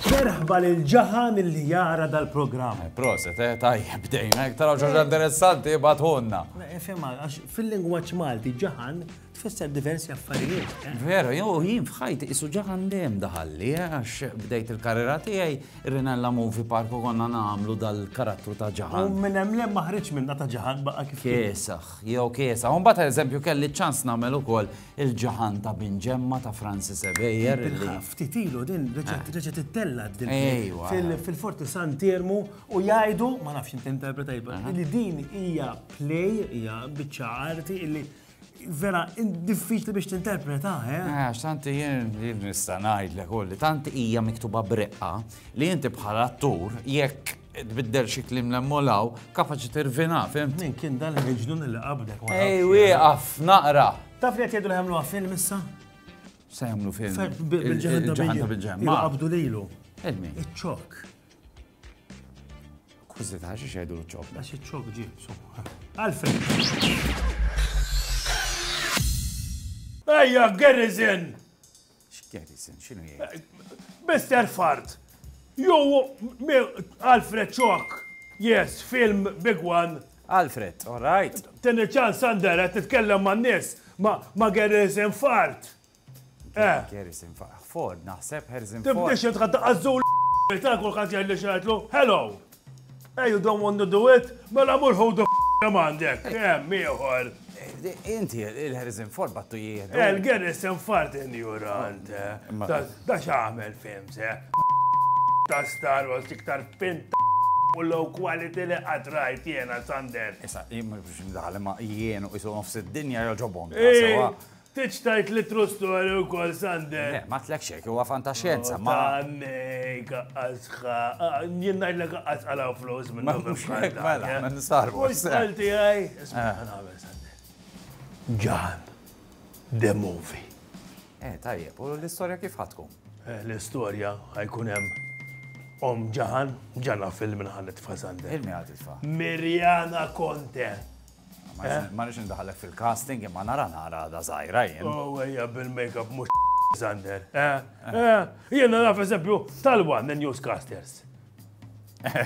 Merħba lil ġaħan li jara dal-programm. Eh, proset, eh, tajjeb, bdejna, taraw ġoġa interessanti, batħunna. Fimma, għax fil-lingwaċ Malti ġaħan Tfisser diversi affarijiet. Vera, jew jien f'ħajti qisu ġaħan dejjem daħalli, eh, għax bdejt il-karriera tiegħi Rinella Movie Park u konna nagħmlu dal-karattru ta' ġaħan. U minn hemm lem ma ħriġ minna ta' ġaħan baqa' kif. Kiesaħ, jew kiesaħ. U mbagħad eżempju kelli ċans nagħmel ukoll il-ġaħan ta' Bin Ġemma ta' Francis Ebejer. Ftit ilu din reġgħet eh. ittella din fil-Forti San Termu u jgħidu, ma nafx inti interpretajba, li din hija play, hija biċċa arti illi vera diffiċli biex tinterpreta, eh? Għax tanti jien li nista' ngħidlek u li tanti hija miktuba breqqa li inti bħala attur jekk tbiddel xi klim l-emmolaw, kapaċi tirvina, fim? Min kien dan il-ġnun li qabdek? Ej, wieqaf, naqra. Taf li qed jgħidu li ħemlu film issa? Se jagħmlu film. Bil-ġeħda bil-ġeħda. Qabdu lilu. Ilmi. Iċ-ċok. Kważi ta' xi xejdu l-ċok. Għax iċ-ċok ġie, Għalfejn. Ejja, Garrison! X'Garrison, x'inhu jgħid? Eh, Mr. Fart, ju Alfred Ċok, yes, film big one. Alfred, all right. Tini ċans għandera, titkellem ma' nis, ma' Garrison Fart. Harrison Ford, naħseb Harrison Ford. Tibdix jent għadda għazzul ta' kull ħadd jgħid li xgħidlu, hello. Hey, you don't want to do it? Mela mur ħu the għandek, hemm ieħor. Inti, il-Harrison Ford battu jieħdu. Eh, Il-Harrison Ford injurant. Eh. Da xaħmel film se. Ta' Star Wars iktar pint u low quality li għatrajt jena Sander. Issa, jimma biex mdaħal ma jienu jisu nofs id-dinja joġobom. Eh. Tridx tgħid li true story wkoll Sander? Le, ma tlek xejn, huwa fantaxjenza, ma. Tannej, kaqqas jien ngħidlek kaqqas għalaw flus minn nofs. Mela, ma nistarbu. Mhux qalti għaj, isma' eh. nagħmel Sander. Ġan, the movie. Eh, tajjeb, u l-istorja kif ħatkum? Eh, l-istorja ħajkun hemm Om ġahan, ġana film minħan it-tfa Sander. Il-mi għad it-tfa. Mirjana Conte. Ma nix indaħalek fil-casting imma nara nara da zaħira jien. Oh, ejja bil-makeup mux Sander. Eh, eh, Jena naf eżempju tal-wan the newscasters. Eh.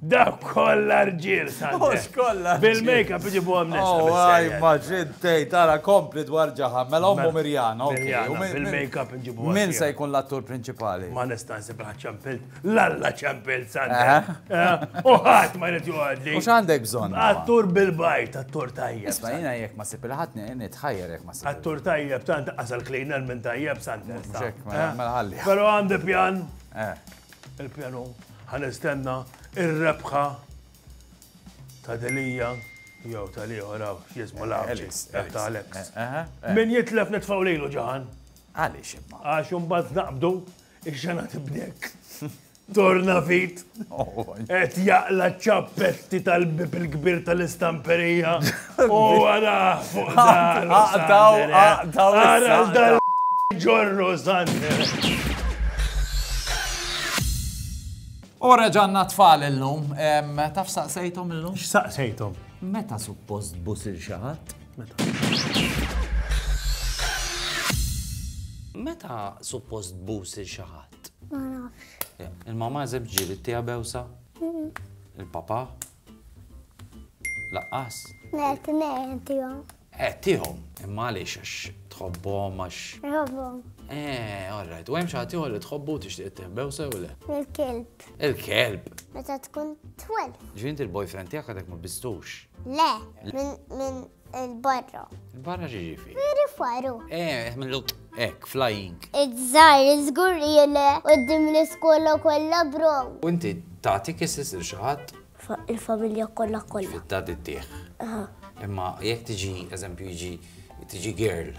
Da kolla rġil, Sander. Mux kolla. Bil-makeup iġibu għam nisa. Oh, għaj, maġid tej, tara kompli dwar ġaħam, mela ummu Mirjana. Mirjana, bil-makeup iġibu għam. Min se jkun l-attur principali? Ma nistansi braċċan pilt. L-alla ċempel sanda. U ħadd ma jrid joqgħodli. U x'għandek bżonn? Attur bil-bajt, attur tajjeb. Isma' jiena jekk ma sib il-ħadd nitħajjar jekk ma sib. Attur tajjeb tant qasal klejna minn tajjeb sanda. Mela ħalli. Però għandi pjan. Il-pjanu ħanistenna ir-rebħa ta' delija jew ta' liħor għaw x'jismu l-għabċis ta' Alex. Min jitlef nitfaw lejlu ġaħan. Għaliex imma. Għax imbagħad naqbdu Ix-xena tibdek. Torna fit. Et jaqla ċappetti tal-bib il-kbir tal-istamperija. U għara fuq dar. Aqtaw, aqtaw. Għara dal ġorru Sander. U reġanna tfal il-lum. Taf saqsejtom il-lum? X'saqsejtom? Meta suppost busir xaħat? Meta suppost bus il xi ħadd? Ma nafx. Il-mama żeb ġieli tiegħu bewsa? Il-papa? Laqqas? Le, tnejn tiegħu. Eh, tiegħu, imma għaliex għax tħobbhom għax. Tħobbhom. Eh, all right. U hemm xi ħadd li tħobbu tixtieq tieħ bewsa u le? Il-kelb. Il-kelb. Meta tkun twel. Ġvint il-boyfriend tiegħek għadek ma bistux. Le, minn il-barra. Il-barra ġiġifi. Veri faru. Eh, minn l Ek, flying. Iżżar, iżgur li jele, u d-dim l-iskola kolla bro. U inti tati kissis il-xaħat? Il-familja kolla kolla. Fit-tati t-tieħ. Imma jek tiġi, eżempju, jiġi, tiġi girl.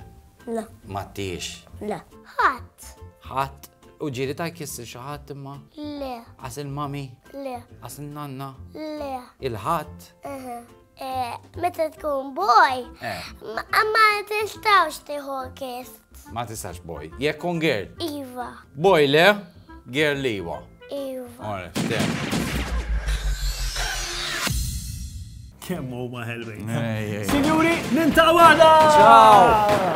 La. Ma t-tiex. La. Ħat. Ħat. U ġiri ta' kiss xi ħadd imma? Le. Għas il-mami? Le. Għas il-nanna? Le. Il-ħadd? Eh, meta tkun boj, eh. ma tistawx tiħu kiss. Ma tistax boj. Jekk kun girl? Iva. Boj le? Girl li iva. Iva. Ora, Kemm huma ħelwin. Signori, nintaw għada! Ciao!